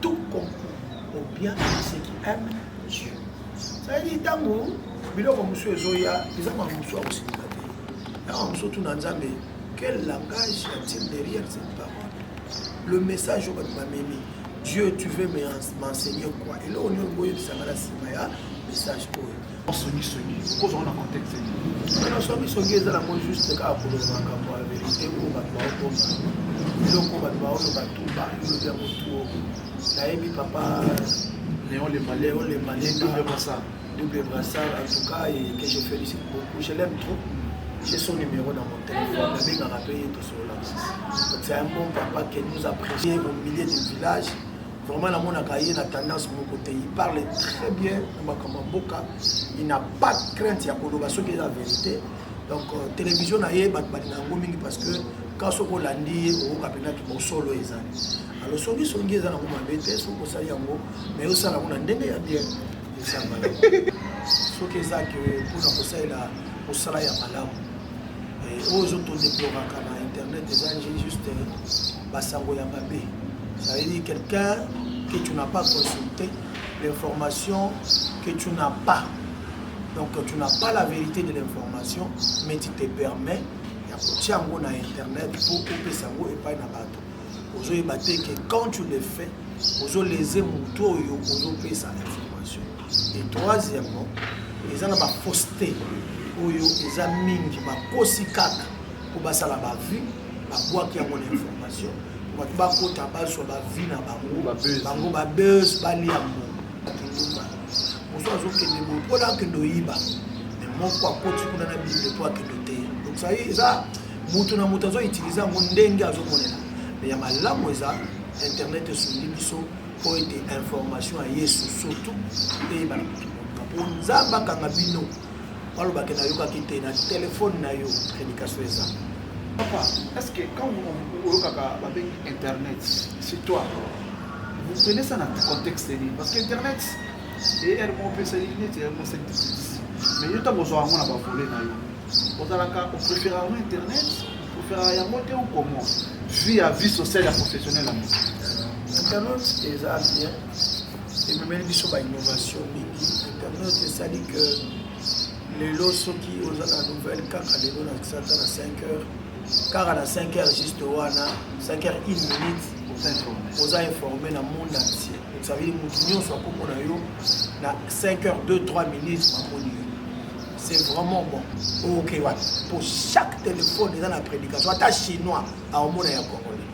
tout concours au bien de ceux qui aiment Dieu. C'est-à-dire, ntango biloko mosusu ezoya eza makambo mosusu akosilika te ntango mosusu tuna nzambe quel langage a-t-il derrière cette parole le message oyo bato bamemi dieu tu veux m'enseigner quoi eloko nini okoyebisanga na nsima ya message oyo songi songi okozwa ngo na contexte nini na songi songi eza nango juste kaka koloba makambo ya verite oyo bato baokomba biloko bato baoloba tu baolobi yango tu nayebi papa Léon Léon Lemba double brassard double brassard en tout cas et que je félicite beaucoup je l'aime trop j'ai son numéro dans mon téléphone nabengaka mpe ye tosololaka donc c'est un bon papa que nous apprécie au milieu du village Vraiment na monaka ye na tendance moko te. Il parle très bien na makambo ya mboka. Il n'a pas de crainte ya koloba soki eza verite. Donc euh, télévision na ye bato balinga yango mingi parce que ka soki olandi ye okoka mpenza ki bosolo ezali. Alors songi songi eza nango mabe te soki osali yango mais osala yango na ndenge ya bien esanga soki eza ke mpona kosalela kosala ya malamu eh, oyo ozotodeploraka na internet eza juste basango ya mabe ça veut dire quelqu'un que tu n'as pas consulté l'information que tu n'as pas donc tu n'as pas la vérité de l'information mais tu te permets ya kotia yango na internet mpo opesa yango epai na bato ozoyeba te ke quand tu le fais ozoleze motu oyo ozopesa information et troisièmement eza na bafausseté oyo eza mingi bakosi kaka mpo basala bavie babwaki yango na information bato bakota bazwa bavie na bango bango babes balia mbongo mosu azokende boye mpo na akende oyiba me moko akoti kuna na bible mpo akende oteya donc sai eza moto na moto azoutilize yango ndenge azomonela me ya malamu eza internet esungi biso mpo ete information ya yesu surtout eyebana moto mpo nzambe akanga bino baloba ke nayokaki te na telefone na yo prédication eza papa est ce que quand oyokaka babengi internet c'est toi vous prenez ça na contexte nini parce que internet eyr moko opesaki neti yango sectitis mais yo ntango ozwa yango na bavole na yo ozalaka opréfère yango internet opréfère yango te ou comment vie ya vie sociale ya professionnel yango internet eza bien ememeli biso ba innovation mingi internet esali que lelo soki oza na nouvelle kaka lelo na kisata na 5 heures kaka na 5 heures juste wana 5 heures 1 minute oza informe na monde entier ça veut dire motu nyonso akomona yo na 5 heures 2 3 minutes mamoni yo c'est vraiment bon oke wapi po chaque téléphone eza na prédication ata chinois aomona ya congolais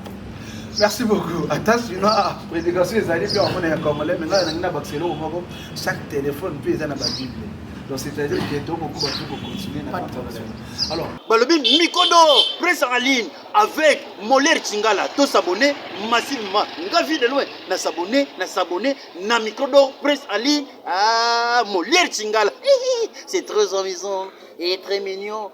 merci beaucoup ata sino prédication ezali mpe aomona ya congolais me ngai nalingi na bakisa eloko moko chaque téléphone mpe eza na babible donc c'est-à-dire que tokokuba tu kocontinue na conversation alors balobi mikodo presse en ligne avec moler chingala to s'abonner massivement nga vie de loin na s'abonner na s'abonner na mikodo presse en ligne ah moler chingala c'est très amusant et très mignon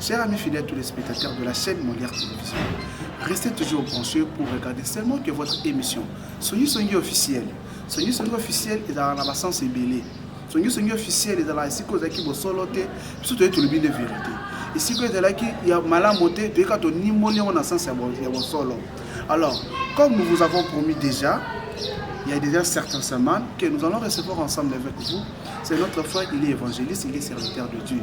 Chers amis fidèles, tous les spectateurs de la chaîne Molière Télévision, restez toujours branchés pour regarder seulement que votre émission Songi Songi officiel. Songi Songi officiel est dans la sens ébélé. Songi Songi officiel est dans la siko zaki bosolo te, biso toye tolobi nde vérité. Esiko ezalaki ya malamu te, toyeka tonimboli yango na sens ya bosolo. Alors, comme nous vous avons promis déjà, il y a déjà certaines semaines que nous allons recevoir ensemble avec vous. C'est notre frère, il est évangéliste, il est serviteur de Dieu.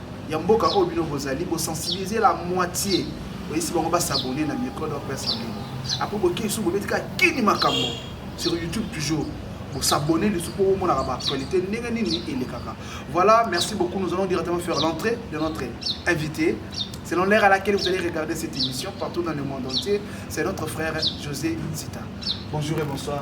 ya mboka oyo bino bozali bosensibilize la moitié oyesi bango basabone na micro d'or pesa ndenge apres bokei lisusu bobeti kaka kini makambo sur youtube toujours bosabone lisusu mpo omonaka baactualité ndenge nini elekaka voilà merci beaucoup nous allons directement faire l'entrée de notre invité selon l'heure à laquelle vous allez regarder cette émission partout dans le monde entier c'est notre frère José Zita bonjour et bonsoir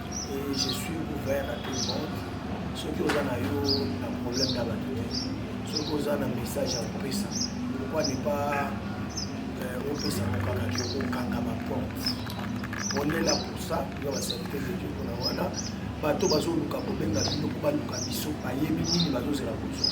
et je suis ouvert à tout le monde soki oza na yo na problème na bato te soki oza na message ya kopesa pourquoi ne pas euh, opesa kokaka ke okanga baporte onela posa ya baservite de dieu mpona wana bato bazoluka kobenga bino mpo baluka biso bayebi nini bazozela kozwa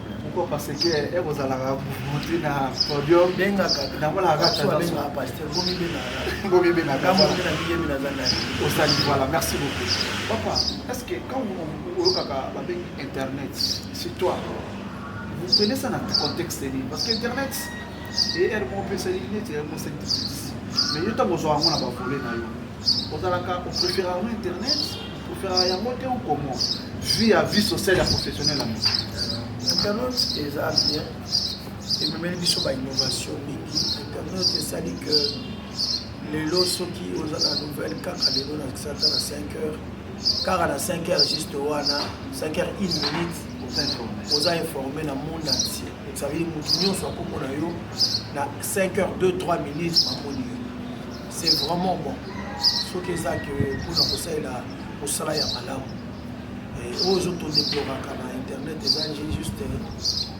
pourquoi parce que ekozalaka eh, motu na podium nakolakaosali voilà merci beaucoup papa est ce que quand oyokaka babengi internet c'est toi vous prenez ça na contexte nini parce que internet eye moko opesali neti mosali mais yo ntango ozwa yango na bavole na yo ozalaka oprefera yango internet oprefera yango te ou comment vie ya vie sociale ya professionnel yango internet eza bien ememeli biso bainnovation mingi internet esali que lelo soki oza na nouvelle kaka lelo na kisata na 5 heures kaka na 5 heures juste wana 5 heures 1 minute oza informe na monde entier ça veut dire motu nyonso akomona yo na 5 heures 2 3 minutes mamoni yo c'est vraiment bon soki eza ke mpona kosalela mosala ya malamu eh, oyo ezotodeploraka na internet eza nje juste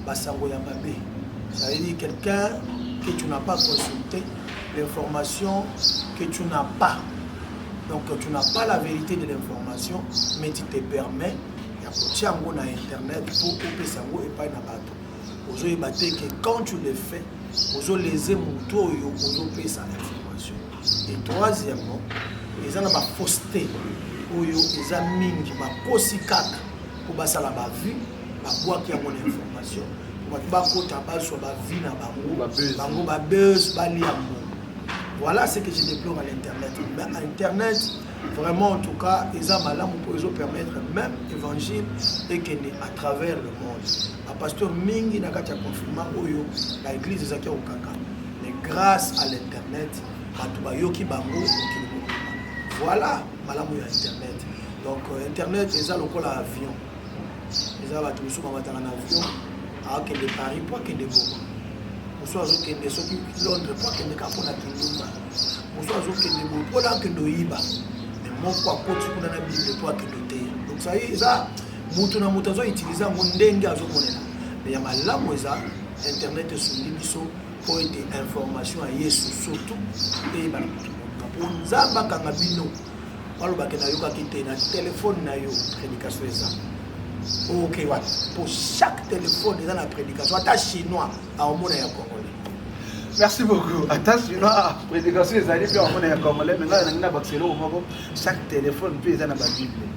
basango ya mabe cetadire quelqu'un que tu n'as pas consulté l'information que tu n'as pas donc tu n'as pas la vérité de l'information mais tu te permets ya kotia yango na internet mpo opesa yango epai na bato ozoyeba te ke quand tu le fais ozoleze motu oyo ozopesa information et troisièmement eza na bafausseté oyo eza mingi bakosi kaka mpo basala bavue babwaki yango na information bato bakota bazwa bavie na bango bango babese balia mbongo voilà ce que je déplore à l'internet mais à internet vraiment en tout cas eza malamu mpo ezopermettre même évangile ekende à travers le monde ba pasteur mingi na kati ya confinement oyo ba eglise ezalaki ya kokanga mais grâce à l'internet bato bayoki bango mokili mobimba voilà malamu ya internet donc euh, internet eza lokola avion eza bato mosusu bamataka na avion akende paris mpo akende goma mosusu azokende soki londres mpo akende ka mpona kindumba mosusu azokende boye mpona akende oyiba me moko akoti kuna na bible mpo akende oteya donc sai eza moto na moto azoutilize yango ndenge azomonela me ya malamu eza internet esungi biso mpo ete information ya yesu surtout eyebana moto moka mpo nzambe akanga bino balobake nayokaki te na telefone na yo prédication eza oke wapi mpo chaque telefone eza na prédication ata chinois aomona ya congolais merci beaucoup ata sino prédication ezali mpe amona ya congolais menga nalingi na bakisa eloko moko chaque téléphone mpe eza na babible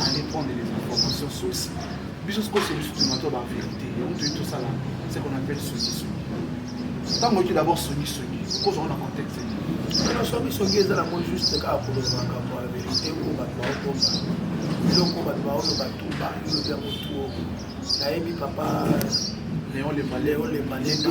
aller prendre les informations source biso sikoyo c'est biso tomatwa ba vérité yango toyei tosala ce qu'on appelle songisongi ntango oki d'abord songisongi okozwa ngo na contexte nini songisongi eza nango juste kaka koloba makambo ya vérité oyo bato baokomba eloko bato baoyo bato bayobi yango tuo nayebi papa léon lemba léon lemba lenda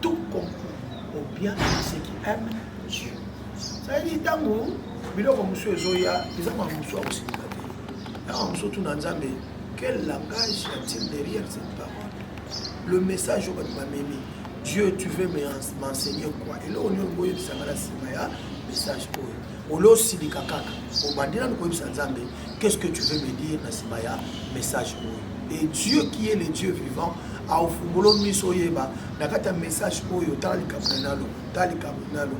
tout concours au bien de ceux qui aiment Dieu. ezalaki ntango biloko mosusu ezoya eza ma mosusu akosilika te ntango mosusu tuna nzambe quel langage a-t-il derrière cette parole le message oyo bato bamemi dieu tu veux m'enseigner quoi eloko nini olingi oyebisanga na nsima ya message oyo olosilika kaka obandi nanu koyebisa nzambe Qu'est-ce que tu veux me dire na sima ya message oyo? Et Dieu qui est le Dieu vivant a ofungolo miso yeba na kati ya message oyo tala likambo na nalo tala likambo na nalo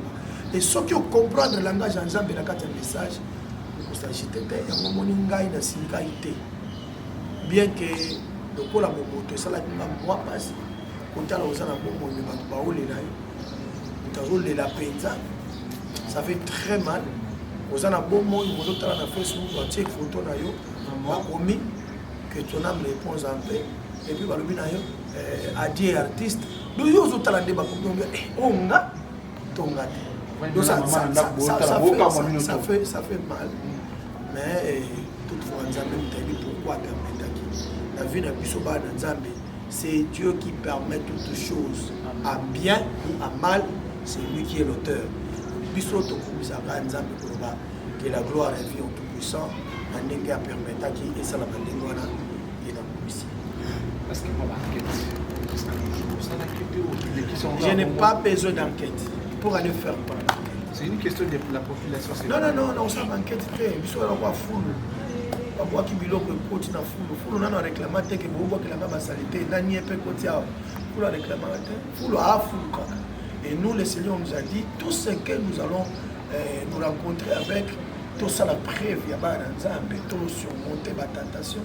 et soki o comprendre langage ya Nzambe na kati ya message okosagite te yango moni ngai na silikai te bien que lokola bomoto esalaki nga mwa mpasi kotala oza na bomoi me bato baolela yo moto azolela mpenza ça fait très mal oza na bomoi ozotala na facebook batie foto na yo bakomi que ton âme repose en paix epuis balobi na yo eh, adie artiste do yo ozotala nde bakomi oyo eh, oh, nga tonga te ça fait mal mais eh, toutefois nzambe motayebi pourquoi permetaki na vie na biso bana nzambe C'est Dieu qui permet toutes choses, à bien ou à mal, c'est lui qui est l'auteur. biso tokumisaka nzambe koloba que la gloire revient au tout puissant na ndenge apermetaki esalaka ndenge wana ye nakumisi je n'ai pas besoin d'enquête pour aller faire quoi C'est une question de la population. Non, non, non, non, ça manquait de paix. Ils sont là, on foule. babwaki biloko ekoti na fulu fulu nano areklama te ke bobwakelanga basalite nani ye mpe ekoti awa fulu areklamaka te fulu afulu kaka et nous le seigneur nous a dit tout ce que nous allons euh, nous rencontrer avec tosala preuve ya bana na nzambe tosurmonte batentation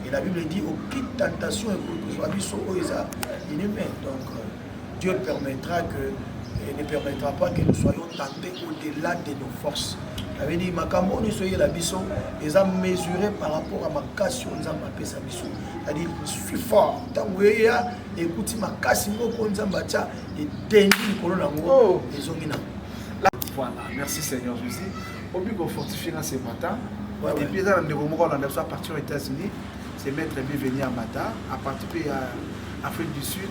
et la bible dit aucune tentation ekoki kozwa biso oyo eza inhumaine donc euh, Dieu permettra que et ne permettra pas que nous soyons tentés au-delà de nos forces. avait dit makambo oyo nyonso eyela biso eza mesuré par rapport à makasi oyo nzambe apesa biso c'est-à-dire suis fort ntango eya ekuti makasi moko nzambe atya etendi likolo na yango oh. ezongi na voilà merci seigneur jésus obi kofortifie na ce matin depuis eza na ndeko moko olanda biso à partir aux états-unis c'est maître bienvenu amata à partir mpe ya afrique du sud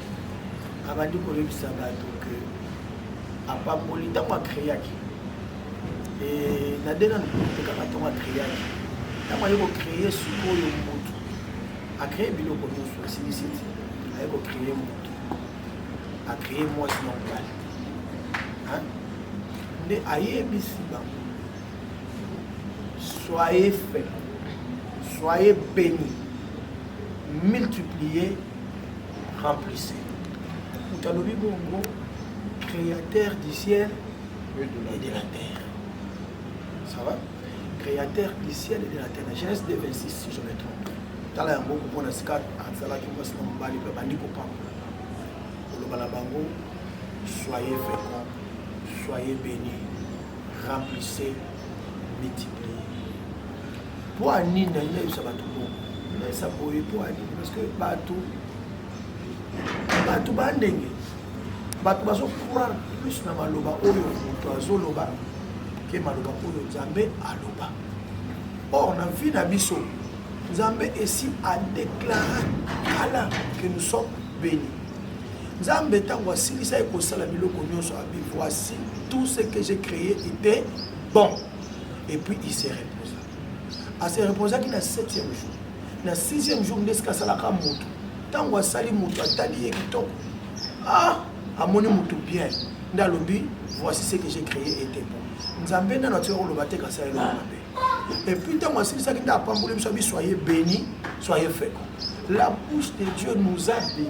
abandi koyebisa bato ke apamboli ntango akreaki na dena tekaka ntango akreaki ntango aye kocreye sikoyo motu acreye biloko nyonso asilisi ti aye kocreye motu acreye mwasi na mobali nde ayebisi bango soyez fait soyez béni multiplier remplisse moto alobi bongo créateur du ciel et de la terre ça va créateur du ciel et de la terre na genèse 2 26 si je me trompe tala yango komona sika azalaki mwasi na mobali mpe bandi kopambola koloba na bango soyez fécond soyez béni remplissez multiplier Mpo ya nini nalingi nayebisa bato bongo nayesa boye mpo ya nini parce que bato bato bandenge bato bazocroire plus na maloba oyo moto azoloba ke maloba oyo nzambe aloba or na vie na biso nzambe esi adeklare kala ke nous sommes bénis nzambe ntango asilisaki kosala biloko nyonso abi voici tout ce que j'ai créé était bon et puis il se reposa a se reposaki na septième jour na sixième jour nde esika asalaka moto ntango asali moto atali ye kitoko ah amoni moto bien nde alobi voici ce que j'ai créé ete bon nzambe nano atika koloba te kasi ayeloko mabe et puis ntango asilisaki nde apamboli biso abi soye béni soye feko la bouche de dieu nous a béni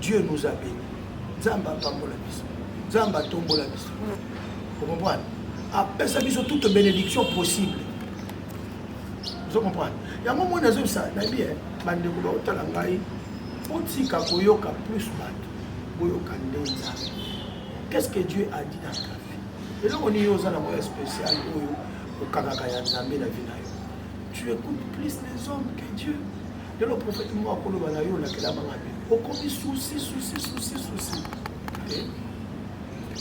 Dieu nous a béni. Nzambe apambola biso. Nzambe atombola biso. Vous comprenez? Apesa biso toute bénédiction possible. Vous comprenez? Yango moi nazobisa na bien bandeko baotala ngai botika koyoka plus bato boyoka nde nzambe qu'est-ce que Dieu a dit dans ta vie eloko nini oza na moya spécial oyo okangaka ya nzambe na vie na yo tu écoutes plus les hommes que Dieu lelo profete moko akoloba na yo olakela banga te okomi susi susi susi susi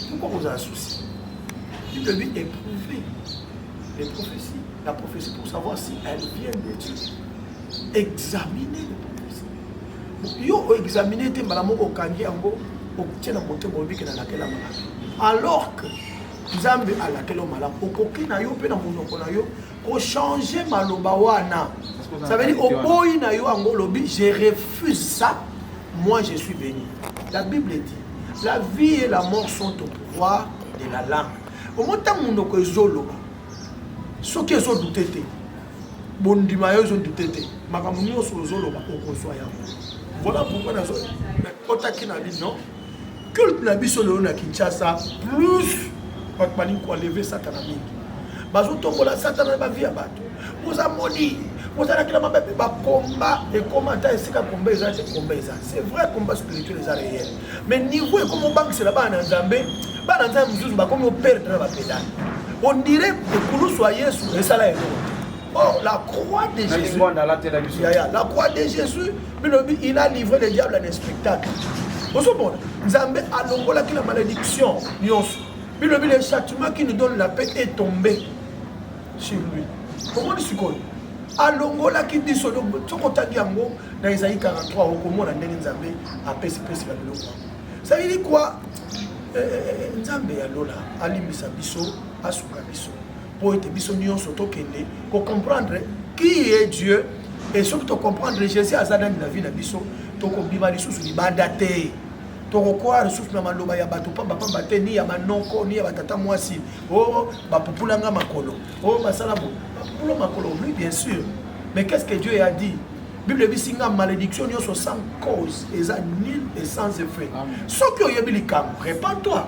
pourkoi kozala susi il devait éprouver les prophéties la prophétie pour savoir si elle vient de Dieu examiner les prophéties yo oexamine te mbala moko okangi yango otie na motema obike na lakela malamu alors que nzambe alakela yo malamu okoki na yo mpe na monoko na yo ko changer maloba wana ça veut dire oboyi na yo yango olobi je refuse ça moi je suis béni la bible dit la vie et la mort sont au pouvoir de la langue omo ntango monoko ezoloba soki ezodute te bondima yo ezodute te makambo nyonso ozoloba okozwa yango voilà pourquoi nazo otaki na bino culte na biso lelo na kinshasa plus bato balingi koenleve satana mingi bazotombola satana na bavi ya bato boza moni bozalakela mabe mpe bakomba ekoma ata esika komba eza te komba eza c'est vrai combat spirituel eza réel mais niveau ekoma obangisela bana na nzambe bana nzambe mosusu bakomi operdre na bapedale ondire ekulusu ya yesu esala yango oh la croix de jésus la croix de jésus bilobi il a livré le diable en spectacle ozomona nzambe alongolaki na malédiction nyonso bilobi le châtiment qui nous donne la paix est tombé sur lui omoni sikoyo alongolaki biso soki otangi yango na ezali 43 okomona ndenge nzambe apesipesi na biloko yango sayili kwa eh, eh, eh, nzambe ya lola alimbisa biso asuka biso mpo ete biso nyonso tokende kocomprendre qui est dieu e soki tocomprendre jésus aza nani na vie na biso tokobima lisusu libanda te tokokoya lisusu na maloba ya bato pambapamba te ni ya manoko ni ya batata mwasi o oh, bapupulanga makolo o oh, basala bo bapupula makolo oui bien sûr mais qu'est ce que dieu a dit bible ebisi nga malédiction nyonso sans cause eza nul et sans effet soki oyebi likambo repent toi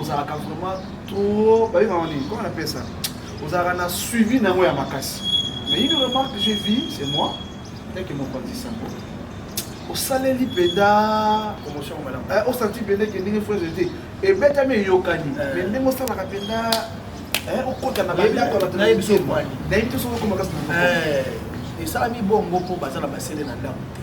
ozalaka vraiment trop bayebaka nini comment on appelle ça ozalaka na suivi na yango ya makasi mais une remarque j'ai vu c'est moi ndeke mokonzi sango osaleli mpenza promotion malamu eh, osanti mpenza ke ndenge frere te ebetami eyokani eh. mais ndenge osalaka mpenza Eh, okota na bandako bato nayebi so mwani nayebi te soki okoma kasi eh, esalami bongo mpo baza na basele na ndako te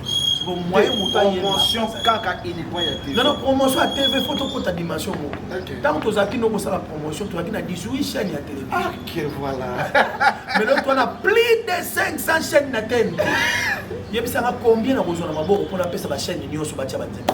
promotion ya tv fo tokota dimension moko ntango tozalaki no kosala promotion tozalaki na 18 chaîne ya télévisionmelo ah, twana plus de 500 chaîne na tene yebisanga combien nakozwa na maboko mpo napesa bachaîne nyonso batya banzemba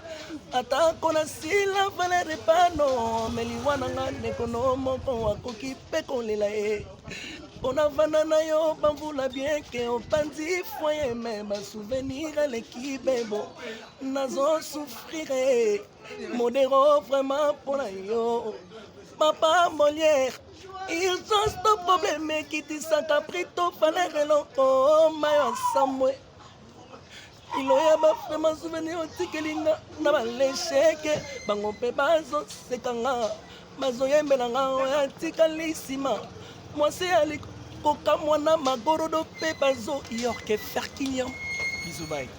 atako nasila valere pano meliwa na nga ndeko no moko akoki mpe kolela ye mpona vanda na yo bamvula bieke opanzi foye me basouvenir eleki bebo nazosufrire modero vraiment mpona yo papa moliere il just to probleme ekitisaka prito valere eloko mayo asamwe kilo ya bafema souvenir otikeli nga na balesheke bango mpe bazoseka nga bazoyembela nga oyo atikali nsima mwasi ya likokamwa na magorodo mpe bazoyorke ferkiniam bizubai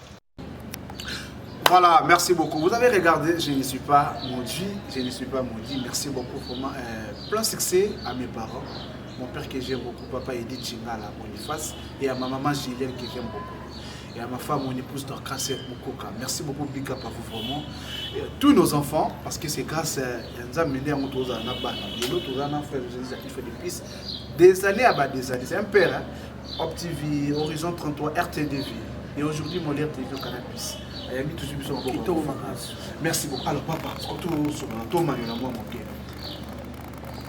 Voilà, merci beaucoup. Vous avez regardé, je ne suis pas maudit, je ne suis pas maudit. Merci beaucoup, vraiment. Euh, plein succès à mes parents. Mon père que j'aime beaucoup, papa Edith Chingala, Boniface, et à ma maman Julienne que j'aime beaucoup. ya ma femme mon épouse Dorcas Mukoka merci beaucoup big up à vous vraiment et tous nos enfants parce que c'est grâce euh, ya Nzambe nde yango tozala na bana lelo tozala na frère Jésus qui fait des pistes des années à bas des années c'est un père hein? Op TV Horizon 33 RTDV et aujourd'hui mon RTDV au Canal Plus ayambi tozwi biso maboko merci beaucoup alors papa soki tosokola tomanyola mwa moke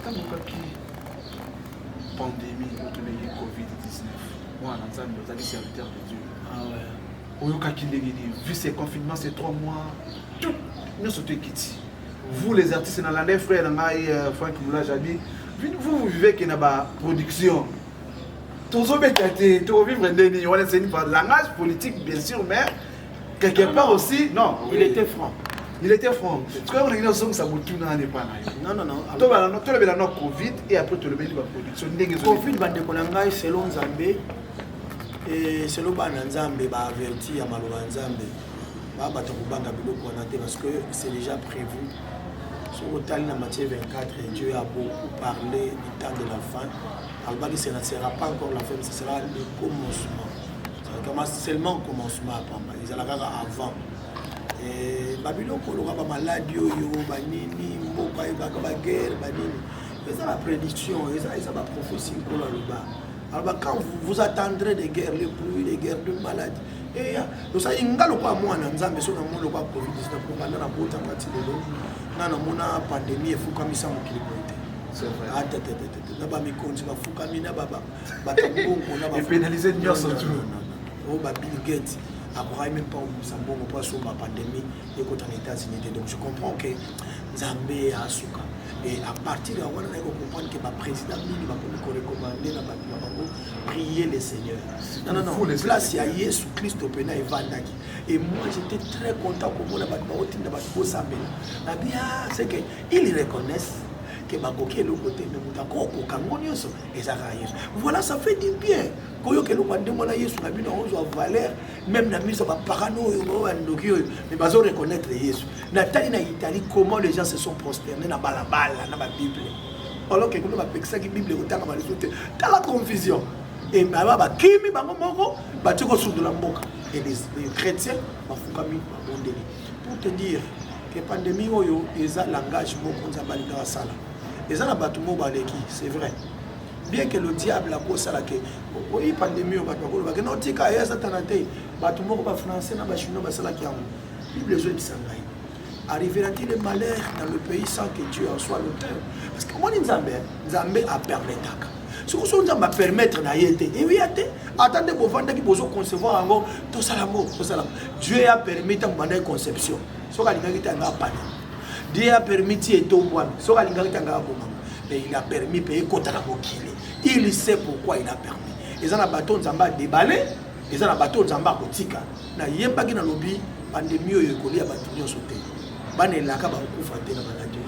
ntango okaki pandemie oyo tobengi covid-19 mwana na nzambe ozali serviteur de dieu ah oyokaki ndenge nini vu ce confinement c'est trois mois tout nyonso to ekiti vous les artistes na landai frère na ngai euh, frank moulage abi vous vous vivez ke na baproduction tozobeta te tokobivre nde nini wana eseni langage politique bien sûr mais quelque part aussi non il était franc il était franc sikoyo olingi nazongisa motuna wana epa na yo tolobela na covid et après tolobeli baproduction ndenge covid bandeko na ngai selo nzambe eh, selo bana nzambe baaverti ya maloba ya nzambe baa bato kobanga biloko wana te parce que c'est déjà prévu soki otali na matthieu 24 dieu a beaucoup parlé du temps de la fin alobaki ce ne sera pas encore la fin ce sera le commencement kama seulement commencement ya pamba ezala kaka avant eh, babiloko oloka bamaladi oyo banini mboka ebaka baguerre banini eza baprediction eza baprophétie nkolo aloba aloba quand vous attendrez de guerre le pluie de guerre de maladi eya eh, osali nga lokola mwana nzambe so namoni lokola covid-19 kobanda na botanga ti lelo nga namona pandemie efukamisa mokili boye te na bamikonzi bafukami na baba epenalize nyonso tu oyo ba bill gate akokaki meme pas kobusa mbongo mpo asomba pandemie ekota na états-unis te donc je comprends que nzambe asuka et à partir ya wana naye kocomprendre ke baprésident mingi bakomi korecommande na bato na bango prier le seigneur place ya yesu kristo mpena evandaki et moi j'étais très content komona bato baotinda bato bosambela babi ah, c'est que ils reconnaissent ke bakoki eloko te me moto akokoka yango nyonso eza kaka yesu voilà ça fait du bien koyoka eloko ya ndenge wana yesu na bino ozwa valeur meme na miso bapakano oyo bao bandoki oyo mais bazo reconnaître yesu natali na italie comment les gens se sont prosterne na balabala na babible alors ke kuna bapekisaki bible ekotanga balisu te tala confusion ebaba bakimi bango moko bati kosundola mboka et les chrétiens bafukami babondeli pour te dire ke pandemie oyo eza langage moko nzambe alingaka asala eza na bato moko baleki c'est vrai bien que le diable akosala ke oyi pandemi oyo bato bakolobake na otika ye satana te bato moko bafrançais na bachinois basalaki yango bible ezoyebisa ngai arrivera-t-il le malheur dans le pays sans que dieu en soit l'auteur parce que omoni nzambe nzambe apermetaka soki so nzambe apermettre na ye te eweya te ata nde bovandaki bozoconcevoir yango tosala yango tosala yango dieu ya permis ntango bandaki conception soki alingaki te yanga apana Dieu a permis ti etombwana soki alingaki te angaka kobama mais il a permis mpe ekota na mokili il sait pourquoi il a permis eza na bato nzambe adebale eza na bato nzambe akotika nayebaki nalobi pandemi oyo ekolia bato nyonso te bana elaka bakokufa te na maladi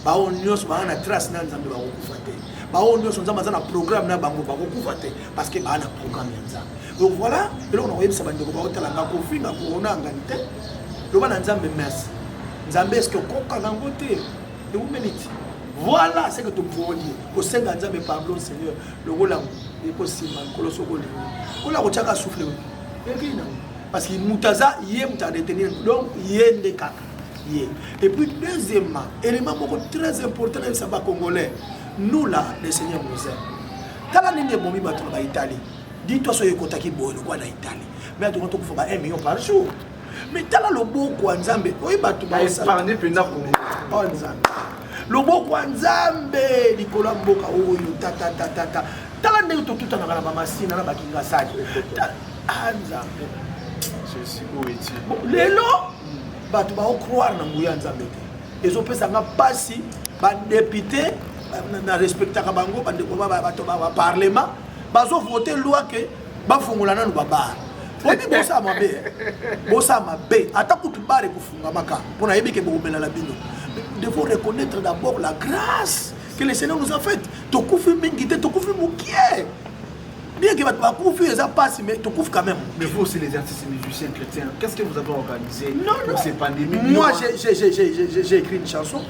baoyo nyonso baa na trace na nzambe bakokufa te baoyo nyonso nzambe aza na programme na bango bakokufa te parce que baa na programme ya nzambe donc voilà eloko na koyebisa bandeko baotala nga kofinga koona ngani te loba na nzambe merci nzambe eske okoka nango te eumeliti voilà ce que tomvoli kosenga nzambe pardon seigneur lokola ekosimba nkolo soki olingi kola kotyaka souffle ekei nango parce que moto aza ye moto adetenir donc ye nde kaka ye et puis deuxièmement élément moko très important na yebisa bacongolais nous là le seigneur nous aime tala ndenge ebomi bato na baitalie Dis-toi soki ekotaki boye lokola na Italie. Mais atonga to kufa ba 1 million par jour. Mais tala loboko ya Nzambe. Oyi bato ba osala. Parne penda ko. Oh Nzambe. Loboko ya Nzambe likolo ya mboka oyo tata tata tata. Tala ndenge totutanaka na mama Sina na bakinga sali. Ah Nzambe. Je suis où est-il? Bon, lelo bato ba croire na nguya ya Nzambe te. Ezopesa nga pasi ba député na respectaka bango bandeko ba bato ba parlement bazo vote loi ke bafongola nanu babar oyebi bosa mabe bosa mabe ata kutu bare kofungamaka mpo nayebi ke bokomelala bino devons reconnaître d'abord la grâce que le seigneur nous a faite tokufi mingi te tokufi mokie bien que bato bakufi eza mpasi mais tokufi quand même mais vous aussi les artistes musiciens chrétiens qu'est ce que vous avez organisé non, non. pour ces pandémies moi j'ai écrit une chanson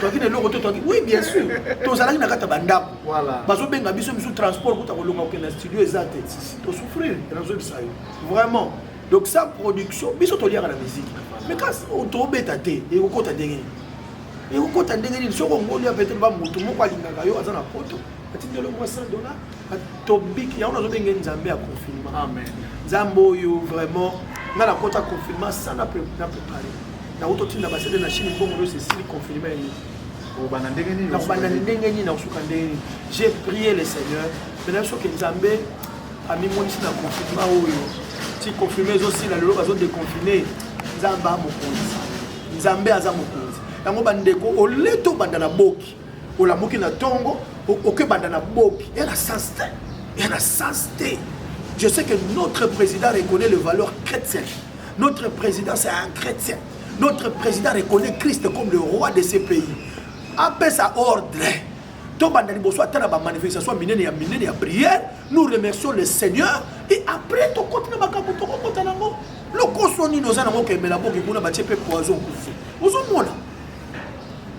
toyaki na eloko te toyaki oui bien sûr tozalaki na kati ya bandako bazobenga biso misu transport kuta kolonga kokende na studio eza te tosouffrir nazobisa yo vraiment donc sa production biso toliaka na musique mais kasi oh, tobeta te ekokota ndenge nini ekokota ndenge nini soki ongoli ya petele ba moto moko alingaka yo aza na poto atindi eloko ya 100 dollars tobiki yango nazobenge nzambe ya confinement amen nzambe oyo vraiment nga nakota confinement sana na prepare nakuti otinda basede na chine mbongo nyonso esili confinement yango nakobanda ndenge nini nakobanda ndenge nini nakosuka ndenge nini j'ai prié le seigneur mais nayebi soki nzambe amimonisi na confinement oyo ti confirme ezosila lelo bazodeconfine nzambe amokonzi nzambe aza mokonzi yango bandeko ole tobanda na boki olamuki na tongo oke banda na boki ya na sens te ya na sens te je sais que notre président reconnaît le valeur chrétienne notre président c'est un chrétien notre président reconnaît christ comme le roi de ce pays apesa ordre tobanda liboso ata na bamanifestation minene ya minene ya prière nous remercions le seigneur et après tokoti na makambo tokokota nango lokoso nini oza nango kemela boki kuna batie mpe poison kufi ozomona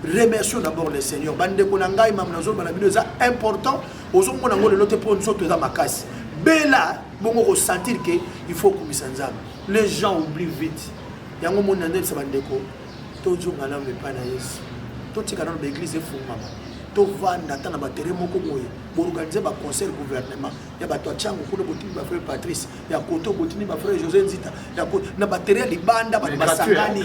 remercions d'abord le seigneur bandeko na ngai mamu nazoloba na bino eza important ozomona yango lelo te mpo nzoto eza makasi bela bongo kosentir ke il faut okumisa nzambe les gens oublie vite yango moni nandelisa bandeko tozonga nano epai na yesu totika nano baeglise efungama tovanda ata na batere moko boye boorganize baconseil gouvernement ya bato ya cango kuna botindi bafrere patrice ya koto botindi bafrere josé nzita na batere ya libanda bato basangani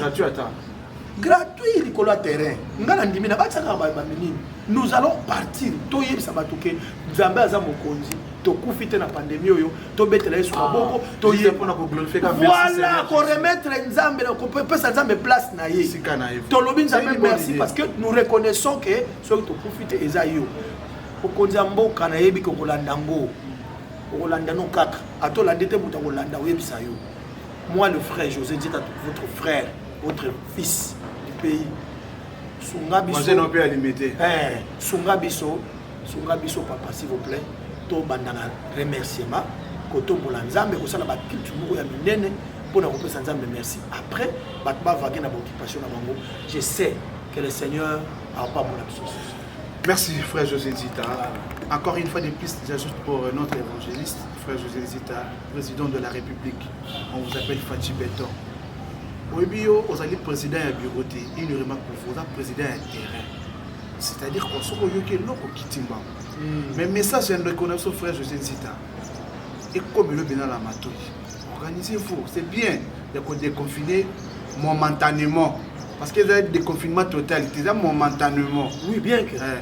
gratuit likolo ya terrain nga na ndimi nabatisaka baminini nous allons partir toyebisa bato ke nzambe aza mokonzi tokufi te na pandemi oyo tobetela yesu maboko ah, toyevoila koremettre nzambe kopesa nzambe place na ye tolobi nzambe merci parce que nous reconnaissons ke soki tokufi te eza yo okonzi ya mboka nayebi kokolanda yango okolanda no kaka ata olandi te moto akolanda oyebisa yo Moi le frère José Dieta, votre frère, votre fils du pays. Sunga biso. Moi non peut alimenter. Eh, sunga biso, sunga biso papa s'il vous plaît. To bandana remerciement kotombola Nzambe kosala ba culte moko ya minene pour na kopesa Nzambe merci. Après, bato ba vague na occupation na bango. Je sais que le Seigneur a pas mon absence. Merci frère José Zita. Encore une fois de plus, j'ajoute pour notre évangéliste, frère José Zita. Président de la République, on vous appelle Fatshi Beton. oyebi yo ozali président ya bureau te une remarque pour vous oza président ya terrain c'est-à-dire qu'on soki oyoki eloko kiti mbango hmm. mais message ya ndeko na biso frère josé nzita ekomi elobi na la matoi organisez vous c'est bien ya kodeconfine momentanément parce que eza déconfinement total te eza momentanément oui bien que eh.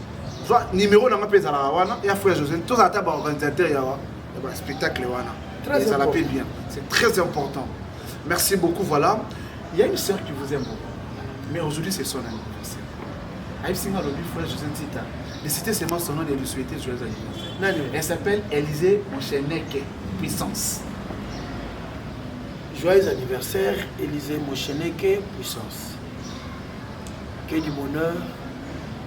zwa numéro na nga mpe ezalaka wana ya frère josé tozala ata baorganisateur ya baspectacle wana ezala mpe bien c'est très important merci beaucoup voilà il y a une sœur qui vous aime beaucoup mais aujourd'hui c'est son anniversaire ayebisi nga alobi frère josé ntita de citer seulement son nom de lui souhaiter joyeux anniversaire elle s'appelle élysée moncheneke puissance joyeux anniversaire élysée moncheneke puissance que du bonheur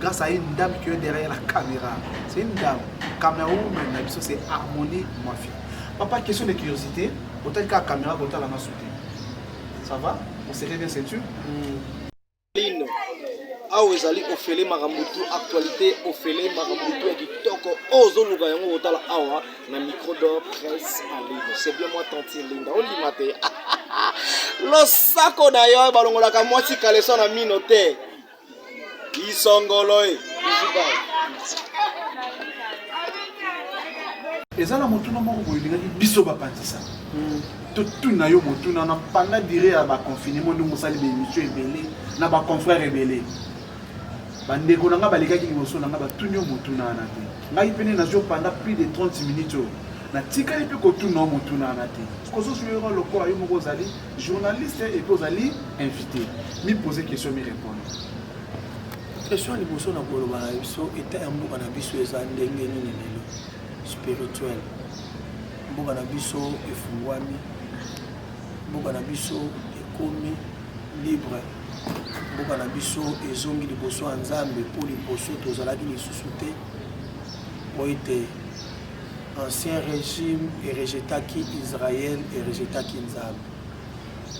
grâce à une dame qui est derrière la caméra c'est une dame cameroun na biso c'est harmonie mafia papa question de curiosité otali kaka caméra kotala na soute ça va on serait bien c'est sûr lino awa ezali ofele makambo tu actualité ofele makambo tu ya kitoko oyo ozoluka yango kotala awa na micro d'or presse en ligne c'est bien moi tanti linda ondima te losako na yo balongolaka mwasi kaleso na mino te Isongoloe. eza na motuna moko boye elingaki biso bapanzisa hmm. totuna yo motuna na panda dire ya baconfinement ndenge osali baémission ebele na baconfrère ebele bandeko na ngai balekaki liboso na ngai batuni yo motuna wana te ngai mpene nazio panda plus de 30 minutes oyo natikali mpe kotuna yo motuna wana te kozozwira lokola yo moko ozali Journaliste et puis ozali invité. Mi poser question, mi répondre. Question ya liboso na koloba na biso etat ya mboka na biso eza ndenge nini lelo spirituel mboka na biso efungwami mboka na biso ekomi libre mboka na biso ezongi liboso ya nzambe mpo liboso tozalaki lisusu te mpo ete Ancien regime erejetaki Israël erejetaki Nzambe.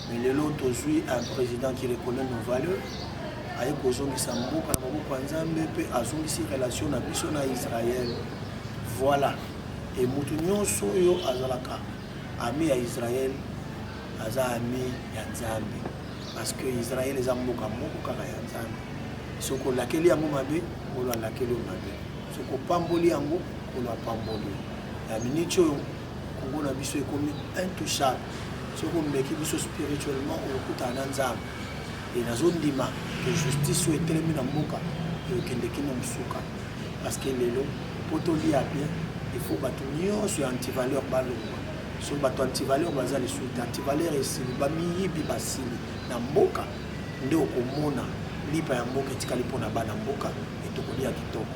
Mais lelo tozui un président qui reconnaît nos valeurs aye kozongisa mboka na maboko ya Nzambe mpe azongisi relation na biso na Israël. Voilà. Et mutu nyonso oyo azalaka ami ya Israël aza ami ya Nzambe parce que Israël eza mboka moko kaka ya Nzambe. Soki olakeli yango mabe, ngolo alakeli yo mabe. soki opamboli yango nkolo apamboli na miniti oyo kongo na biso ekomi intouchable soki omeki biso spirituellement okokutana na nzambe e nazondima ke justice oyo etelemi na mboka ekokende kino mosuka parce que lelo mpo tolia bien ifo bato nyonso ya antivaleur balongwa so bato antivaleur baza lisusu te antivaleur esili bamiyibi basili na mboka nde okomona lipa ya mboka etikali mpo na bana mboka et tokolia kitoko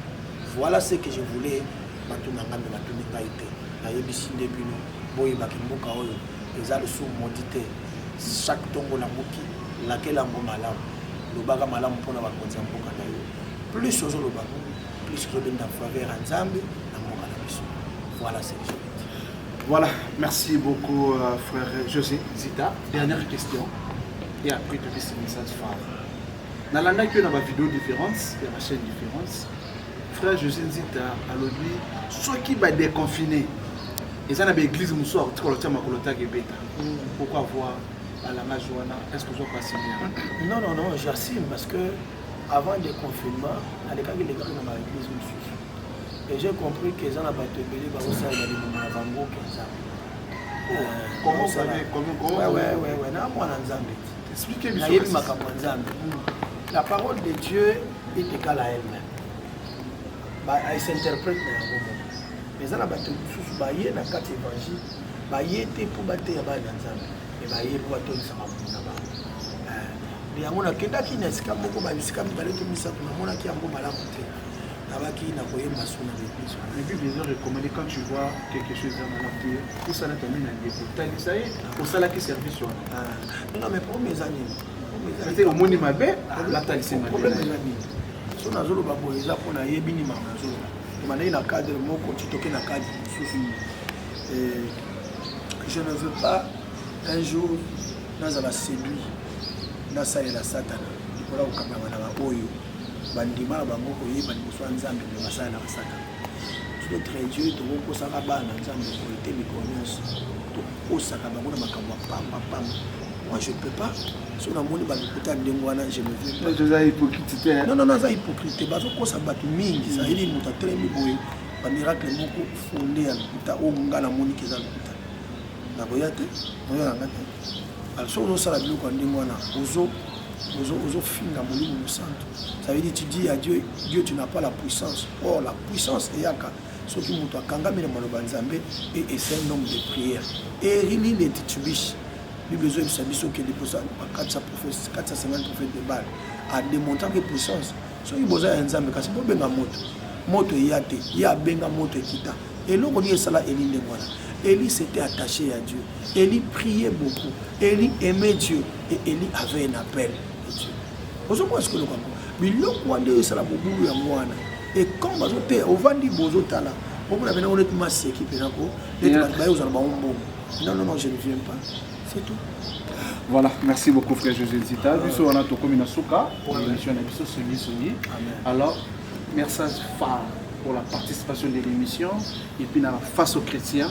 voilà ce que je voulais bato na ngambe batuni ngai te nayebisi nde bino boyebaki mboka oyo eza lisumu modi te chaque ntongo lamuki lakela yango malamu lobaka malamu mpo na bakonzi ya mboka na yo plus ozoloba plus ozobenda faveur ya nzambe na mboka na biso voilà ce que Voilà, merci beaucoup euh, frère José Zita. Dernière question et après tu laisses le message phare. nalandaki yo na ba video différentes ya ba chaîne différentes frère josé nzita alobi soki ba déconfine eza na baeglise mosusu akotika lotia makolo taka ebeta pourquoi avoir balangage wana est ce que ozo pasime non non non j'assume parce que avant de confinement nalekaki lekaki na baeglise mosusu et j'ai compris que eza na bato ebele bakosalela libumu na bango mpenza na mwana nzambe nayebi makambo ya nzambe la parole de dieu etekala elle-même esinterprète na yango moko eza na bato mosusu baye na kati ya évangile baye te mpo bateya bana na nzambe me baye mpo batondisa mabumu na bango eh, yango nakendaki na esika moko baesika mibale to misato namonaki yango malamu te nabaki na koyemba suna l'église la bible eza recommandé quand tu vois quelque chose eza malamu te osalaka nini na ndeko talisa ye osalaki service wana ah. Non mais problème eza nini? Ete omoni mabe alataki mabe. Problème eza nini? So nazoloba boye eza mpo nayebi nini makambo nazoloba. Ebandaki na cadre moko titoke na cadre mosusu. Euh, je ne veux pas un jour nazala séduit nasalela satana likola kokangama na baoyo bandima na bango koyeba liboso ya nzambe me basalela basatana notre dieu tokokosaka bana nzambe oyo te mikolo nyonso tokosaka bango na makambo ya pamba pamba moi je peux pas so namoni balokuta ya ndenge wana je me vieuxoza hypocrite te non non aza hypocrite te bazokosa bato mingi zayeli moto atelemi boye bamiracle moko fonde ya lokuta oyo nga namoniki eza lokuta nakoya te oyo yanga te Alors soki ozosala biloko ya ndenge wana ozo ozofinga molimo mosantu ça veut dire tu dis à dieu dieu tu n'as pas la puissance or la puissance eyaka soki moto akangami na maloba nzambe e ese un homme de prière erini de titubishi bible ezoyebisa biso okende mposa bakatisa prophète katisa sengani prophète de bale ademontraki puissance soki boza ya nzambe kasi bobenga moto moto eya te ye abenga moto ekita eloko nini esala eli ndenge wana eli s'était attaché ya dieu Elie prier beaucoup Elie aimer Dieu et Elie avait un appel de Dieu ozokoa sikolo kako biloko wana nde esala mobulu yango wana et quand bazoteya ovandi bozotala omona mpena ngo neti maseki mpena ko neti bato baye kozala bango mbongo non non non je ne viens pas c'est tout voilà merci beaucoup frère josé nzita biso wana tokomi na suka émission na biso songi songi alors message phare pour la participation de l'émission et puis na face aux chrétiens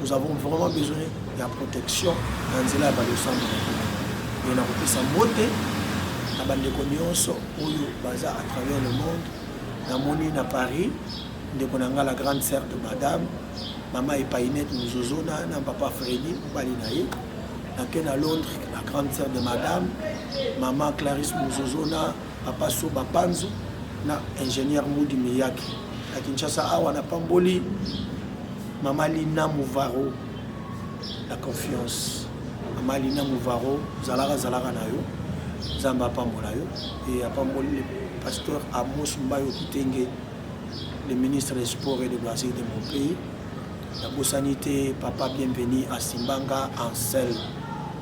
nous avons vraiment besoin ya protection na nzela ya balosambo e nakopesa mbote na bandeko nyonso oyo baza à travers le monde namoni na paris ndeko na ngai la grande sœur de madame mama epainete mozozona na papa fredi mobali na ye nake na londres la grande sœur de madame mama clarisse mozozona papa soba panzu na ingénieur mudi miyaki na kinshasa awa napamboli mama lina muvaro la confiance mama lina muvaro zalaka zalaka na yo nzambe apambola yo e apamboli le pasteur amos mbayo kitenge le ministre des sports et de loisir de mon pays nabosani te papa bienvenu asimbanga ansel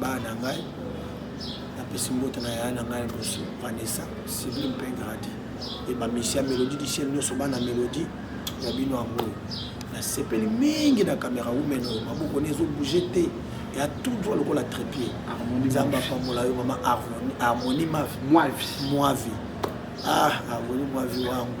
bana na ngai napesi mbote na yaya na ngai liboso vanessa sibli mpe gradi e bamisi ya melodie du ciel nyonso bana melodie ya bino yango nasepeli mingi na kamera wumeno maboko ne ezobouge te ya tout droit lokola trepied nzambe apambola yo mama harmonie mavi mwavi ah harmonie mwavi wangu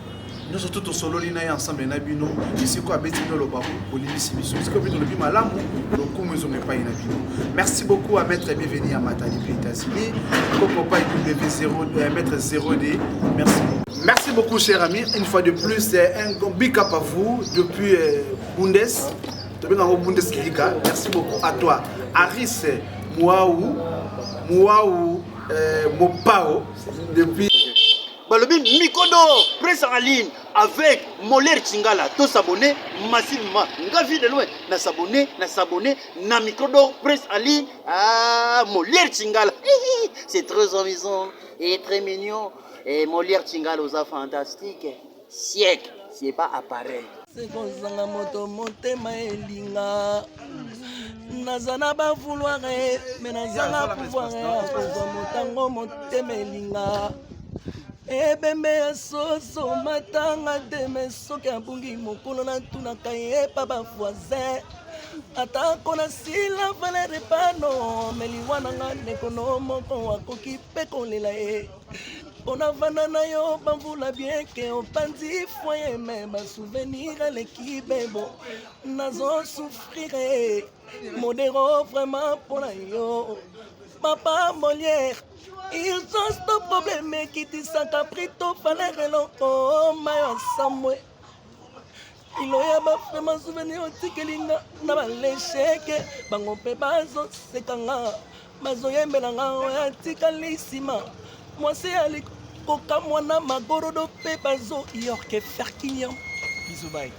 nyonso tu tosololi na ye ensemble na bino esiko abeti bino loba bolimbisi biso esiko bino lobi malamu lokumu ezonga epai na bino merci beaucoup à maître bienvenu ya mata depuis états-unis kokopa eqb 0 maître 0d merci beaucoup merci beaucoup cher ami une fois de plus un big up à vous depuis euh, bundes tobenga yango bundes kilika merci beaucoup à toi aris muau muau euh, mopao depuis balobi miko d'or presse en ligne avec moler chingala to s'abonner massivement nga vie de loin na s'abonner na s'abonner na micro d'or presse en ligne ah moler chingala c'est très amusant et très mignon et moler chingala oza fantastique siècle c'est pas appareil sekozanga moto motema elinga naza na bavouloire me nazanga pouvoir ya kozwa motango motema elinga ebembe ya soso matanga te me soki abungi mokolo natunaka ye epa bavoisin atako nasila valere pano me liwa na nga ndeko no moko akoki mpe kolela ye eh. onavanda na yo bamvula bieke opanzi foye me basouvenir eleki bebo nazo souffrire modero vraiment mpo na yo papa molière ils ont ce problème ekitisaka prito valeur eloko mayo asambwe iloyaba vraimen souvenir otikeli nga na balesheke bango mpe bazoseka nga bazoyembela nga oyo atikali nsima mwasi ya likokamwa na magorodo mpe bazoyorke ferkinian bizubai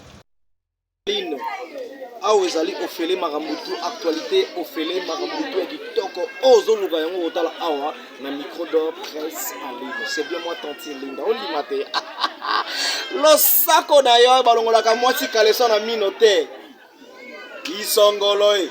lino awa ezali ofele makambo tu actualité ofele makambo tu ya kitoko oyo ozoluka yango kotala awa na micro d'or presse en ligne c'est bien moi tantine linda ondima te losako na yo balongolaka mwasi kaleso na mino te isongolo e